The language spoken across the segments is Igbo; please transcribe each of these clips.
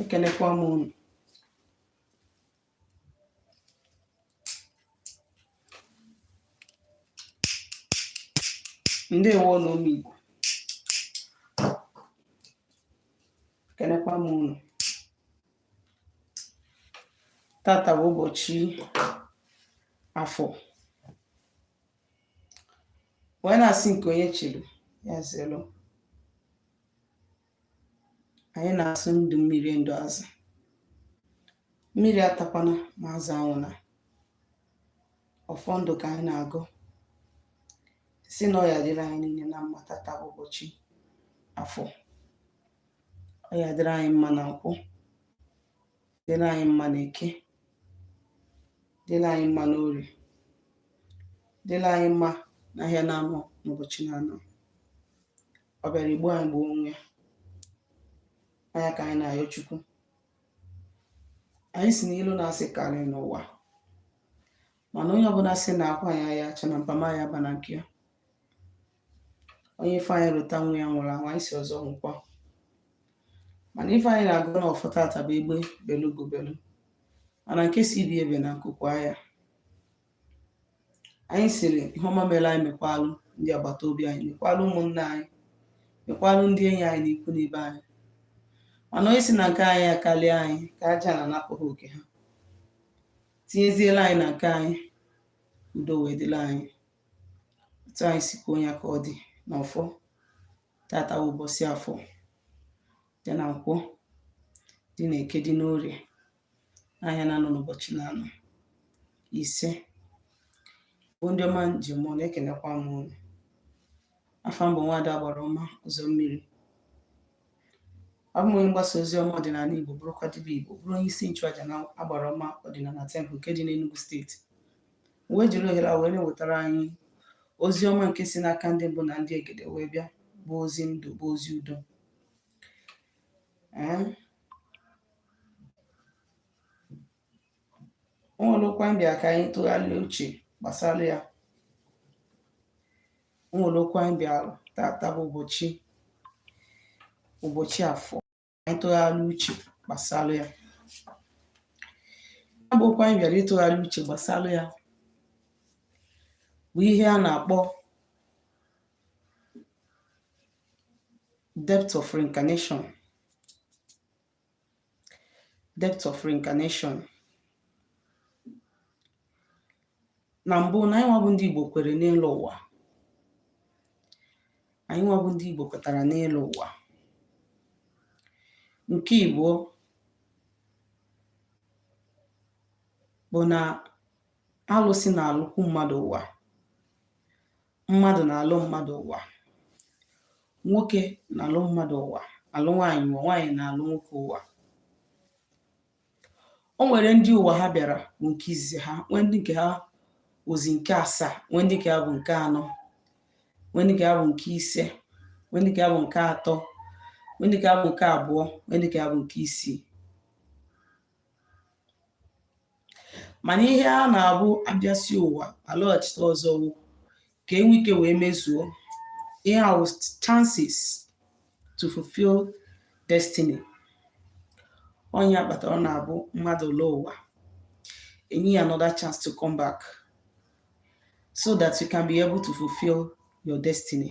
ekenekwa m unu ndewo nụ ụmụ Igbo ekenekwa m unu tata bụ ụbọchị afọ wee na-asị nke onye chiri ya zelu anyị na-asị ndụ mmiri ndụ azụ mmiri atakwana ma azụ anwụna ọfọ ndụ ka anyị na-agọ sị na ọ ya-adịrị anyị niine na mma tata ụbọchị afọ ọ ya-adịrị anyị mma na nkwọ dịrị anyị mma na eke dịrị anyị mma na orie dịrị anyị mma na ahịa na anọ n'ụbọchị na anọ ọ bịara igbu anyị gbuo onwe ya ka anyị na-ayọ chukwu anyị sị n'ilo na asị karị n'ụwa mana onye ọbụna sị na akwa anyị ya-acha na mpama ya ba na nke ya onye ife anyị rụta nwa ya nwụrụ anwụ anyị sị ọzọ nwụkwa mana ife anyị na-agọ na ọfọ tata bụ egbe belu ugo belu mana nke sị ibe ebena nku kwaa ya anyị sịrị ihe ọma mere anyị mekwalụ ndị agbata obi anyị mekwalụ ụmụnna anyị mekwalụ ndị enyi anyị na ikwu na ibe anyị mana onye sị na nke anyị akarịa anyị ka aja ana napụ ha oke ha tinyezielu anyị na nke anyị udo wee dịlị anyị otu anyị si kwuo ya ka ọ dị na ọfọ tata ụbọchị afọ dị na nkwọ dị na eke dị n'orie n'ahịa na-anọ n'ụbọchị na-anọ ise bụ ndị ọma m ji eme ọnụ ekenekwa m unu afa m bụ nwada agbara ọma ụzọ mmiri abụ m onye mgbasa ozi ọma ọdịnala Igbo bụrụkwa dibịa Igbo bụrụ onye isi nchụaja na agbara ọma ọdịnala tempụl nke dị n'Enugu steeti m wee jiri ohere a wee na-ewetara anyị ozi ọma nke si n'aka ndị mbụ na ndị egede wee bịa bụ ozi ndụ bụ ozi udo o nwere okwu anyị bịara ka anyị tụgharịa uche gbasara ya o nwere okwu anyị bịara tata bụ ụbọchị ụbọchị afọ anyị tụgharịa uche gbasara ya ya bụ okwu anyị bịara ịtụgharị uche gbasara ya bụ ihe a na-akpọ depth of reincarnation debt of reincarnation na mbụ na anyị nwa bụ ndị Igbo kwere n'ịlọ ụwa anyị nwa bụ ndị Igbo kwetara n'ịlọ ụwa nke ibụọ bụ na alụsị na-alụkwu mmadụ ụwa mmadụ na-alụ mmadụ ụwa nwoke na-alụ mmadụ ụwa alụ nwaanyị ụwa nwaanyị na-alụ nwoke ụwa o nwere ndị ụwa ha bịara bụ nke izizi ha nwee ndị nke ha wụzi nke asaa nwee ndị nke ha bụ nke anọ nwee ndị nke ha bụ nke ise nwee ndị nke ha bụ nke atọ nwee ndị nke ha bụ nke abụọ nwee ndị nke ha bụ nke isii mana ihe a na-abụ a bịasịa ụwa a lọghachite ọzọ wụ ka e nwee ike wee mezuo ihe a wụ chances to fulfill destiny ọ nya kpatara ọ na-abụ mmadụ lọọ ụwa e nye ya another chance to come back so that you can be able to fulfill your destiny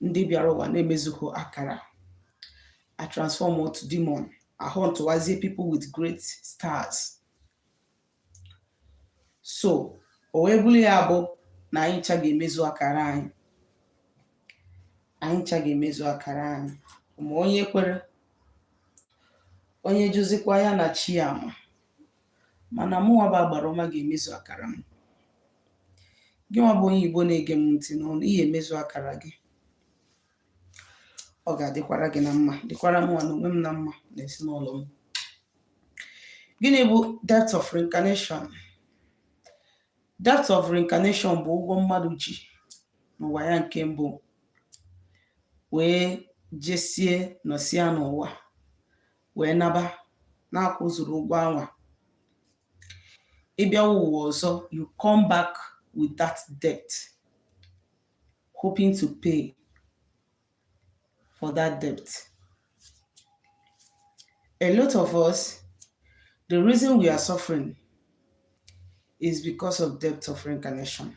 ndị bịara ụwa na-emezughị akara a transform to demon a huntụwazie people with great stars so o wee bụrụ ya bụ na anyị ncha ga-emezu akara anyị anyị ncha ga-emezu akara anyị ma onye kwere onye jụzikwa ya na chi ya ma mana mụnwa bụ agbara ọma ga-emezu akara m gị nwa bụ onye igbo na-ege m ntị n'ọnụ ị ya-emezu akara gị ọ ga-adịkwara gị na mma dịkwara mụnwa na onwe m na mma na ezinụlọ m gịnị bụ debt of reincarnation debt of reincarnation bụ ụgwọ mmadụ ji n'ụwa ya nke mbụ wee jesie nọsịa n'ụwa wee naba na-akwụzuru ụgwọ anwa ịbịa ụwa ọzọ you come back with that debt hoping to pay for that debt a lot of us the reason we are suffering is because of debt of reincarnation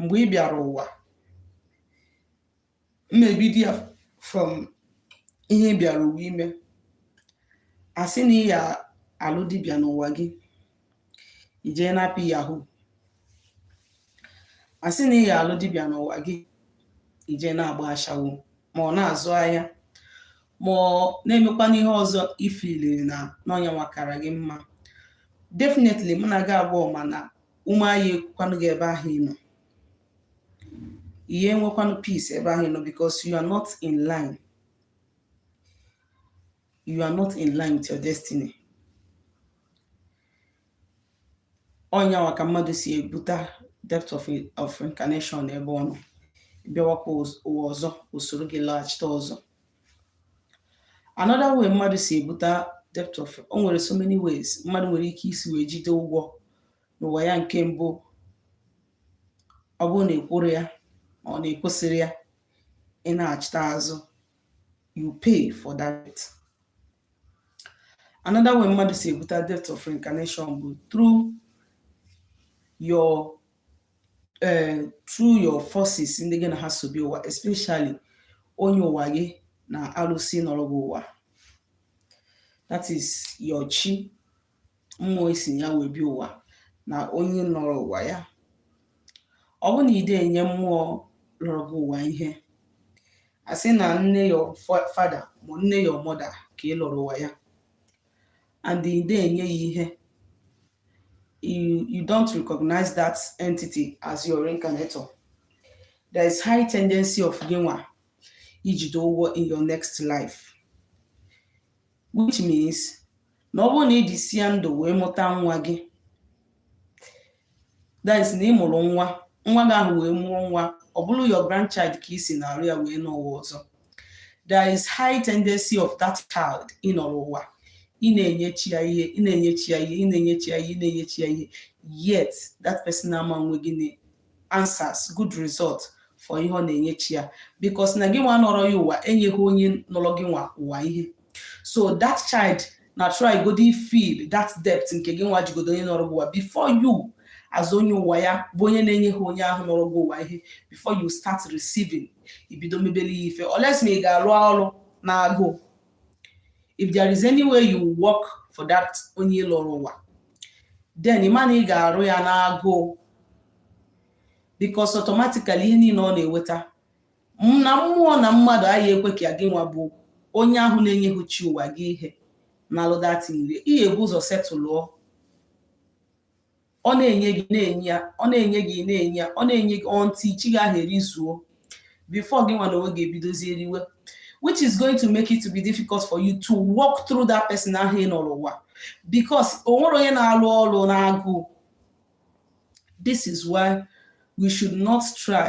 mgbe ị bịara ụwa mmebido ya from ihe ị bịara ụwa ime a sị na ị ya alụ dibịa n'ụwa gị ị jee na-apị yahoo a sị na ị ya alụ dibịa n'ụwa gị ị jee na-agba ashawo ma ọ na-azụ ahịa ma ọ na-emekwana ihe ọzọ ị feeliri na n'ọ nyanwa kara gị mma definitely money ga-agba o mana ume aya erukwanụ gị ebe ahụ ị nọ ị ya enwekwanụ peace ebe ahụ ị nọ because you are not in line you are not in line with your destiny ọ nyanwa ka mmadụ si ebute debt of, of incarnation ebe ọ nọ bịawakwa ụwa ọzọ o soro gị laghachite ọzọ another way mmadụ si ebuta debt of o nwere so many ways mmadụ nwere ike isi wee jide ụgwọ n'ụwa ya nke mbụ ọ bụrụ na e kwuru ya ọ na-ekwesịrị ya ị na-achịta azụ you pay for that another way mmadụ si ebuta debt of reincarnation bụ through your eh, through your forces ndị gị na ha so bịa ụwa especially onye ụwa gị na arụsị nọrọ gị ụwa that is your chi mmụọ i si ya wee bịa ụwa na onye nọrọ ụwa ya ọ bụ na ide enye mmụọ lọrọ gị ụwa ihe a sị na nne your father ma nne your mother ka ị lọrọ ụwa ya and ide enye ya ihe you, you don't recognize that entity as your reincarnator there is high tendency of gịnwa ijide ụgwọ in your next life which means na ọ bụrụ na ị dịsịa ndụ wee mụta nwa gị that is na ị mụrụ nwa nwa gị ahụ wee mụọ nwa ọ bụrụ your grandchild ka i si n'arụ ya wee nọ ụwa ọzọ there is high tendency of that child ị nọrọ ụwa ị na-enye chi ya ihe ị na-enye chi ya ihe ị na-enye chi ya ihe ị na-enye chi ya ihe yet that person ama nwe gị na answers good result for ihe ọ na-enye chi ya because na gị nwa nọrọ ya ụwa enyeghị onye nọrọ gị nwa ụwa ihe so that child na try godi fill that debt nke gị nwa jigodo onye nọrọ gị ụwa before you as onye ụwa ya bụ onye na-enyeghị onye ahụ nọrọ gị ụwa ihe before you start receiving ibido mebele ya ife or else ma ị ga-arụ ọrụ na agụụ if there is any way you work for that onye lọrọ ụwa then ị ma na ị ga-arụ ya na agụụ because automatically ihe niile ọ na-eweta na mmụọ na mmadụ ayị ekwe ka gị nwa bụ onye ahụ na-enyeghị chi ụwa gị ihe nalụ that thing rie ihe ebu ụzọ setụlụọ ọ na-enye gị na-enye ya ọ na-enye gị na-enye ya ọ na-enye gị until chi gị ahụ erizuo before gị nwa na onwe gị ebidozi eriwe which is going to make it to be difficult for you to work through that person ahụ ị nọrọ ụwa because o nwere onye na-alụ ọlụ n'agụụ this is why we should not try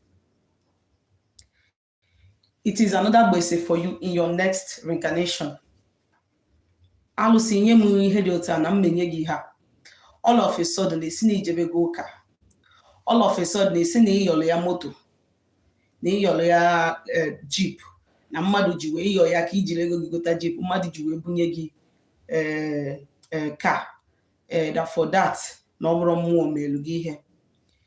it is another gbese for you in your next reincarnation alụsị nye m ihe dị otu a na m menye gị ha all of a sudden esi na i jebego ụka all of a sudden esi na ị yọrọ ya moto na ị yọrọ ya eh, jeep na mmadụ ji wee ịyọ ya ka ijiri ego gị gota jeep mmadụ ji wee bunye gị eh, eh, car that for that na ọ bụrụ mmụọ melu gị ihe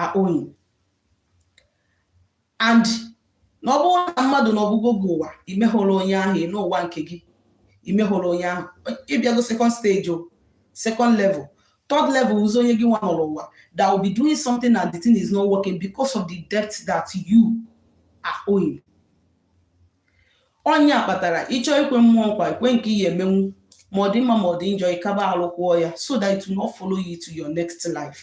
are owing and na ọ bụrụ na mmadụ nọbugo gị ụwa imehụrụ onye ahụ n'ụwa nke gị imehụrụ onye ahụ ị bịago second stage o second level third level ọ bụzi onye gị nwa nọrọ ụwa that will be doing something and the thing is not working because of the debt that you are owing ọ ya kpatara ị chọọ ikwe mmụọ nkwa i kwe nke ị ya-emenwu ma ọ dị mma ma ọ dị njọ ị ga-agbalị kwụọ ya so that it will not follow you to your next life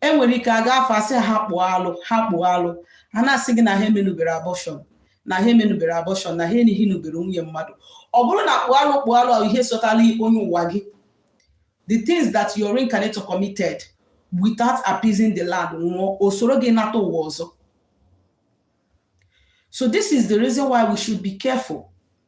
e nwere ike a gaa afa a sị ha kpụọ alụ ha kpụọ alụ ha na-asị gị na ha emenubere abortion na ha emenubere abortion na ha enighi nubere nwunye mmadụ ọ bụrụ na kpụọ alụ kpụọ alụ ihe sotalụ onye ụwa gị the things that your reincarnator committed without appeasing the land nwụọ o soro gị nata ụwa ọzọ so this is the reason why we should be careful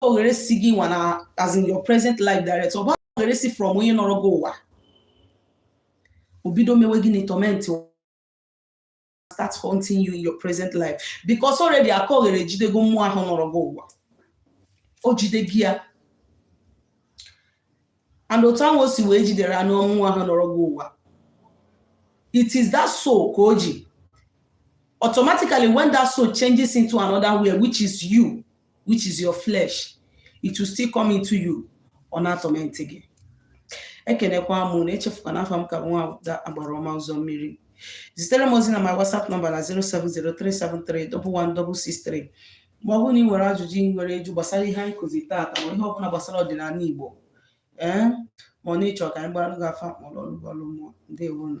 oghere si gị nwa na as in your present life direct ọ bụ oghere si from onye nọrọ gị ụwa o bido mewe gị na torment start haunting you in your present life because already aka oghere ejidego mmụọ ahụ nọrọ gị ụwa o jidego ya and otu ahụ o si wee jidere anụ mmụọ nwa ahụ nọrọ gị ụwa it is that soul ka o ji automatically when that soul changes into another way which is you which is your flesh it will still come into you ọ na-atorment gị ekenekwa m unu echefukwa na afa m ka nwa ada agbara ọma ụzọ mmiri zitere m ozi na my whatsapp number na 07037311163 ma ọ bụrụ na ị nwere ajụjụ ị nwere ịjụ gbasara ihe anyị kuzi taata ma ihe ọbụla gbasara ọdịnala Igbo ee ma ọ na ị chọ ka anyị gbara gị afa ma ọ lụọrọ gị ọlụ mmụọ ndewonụ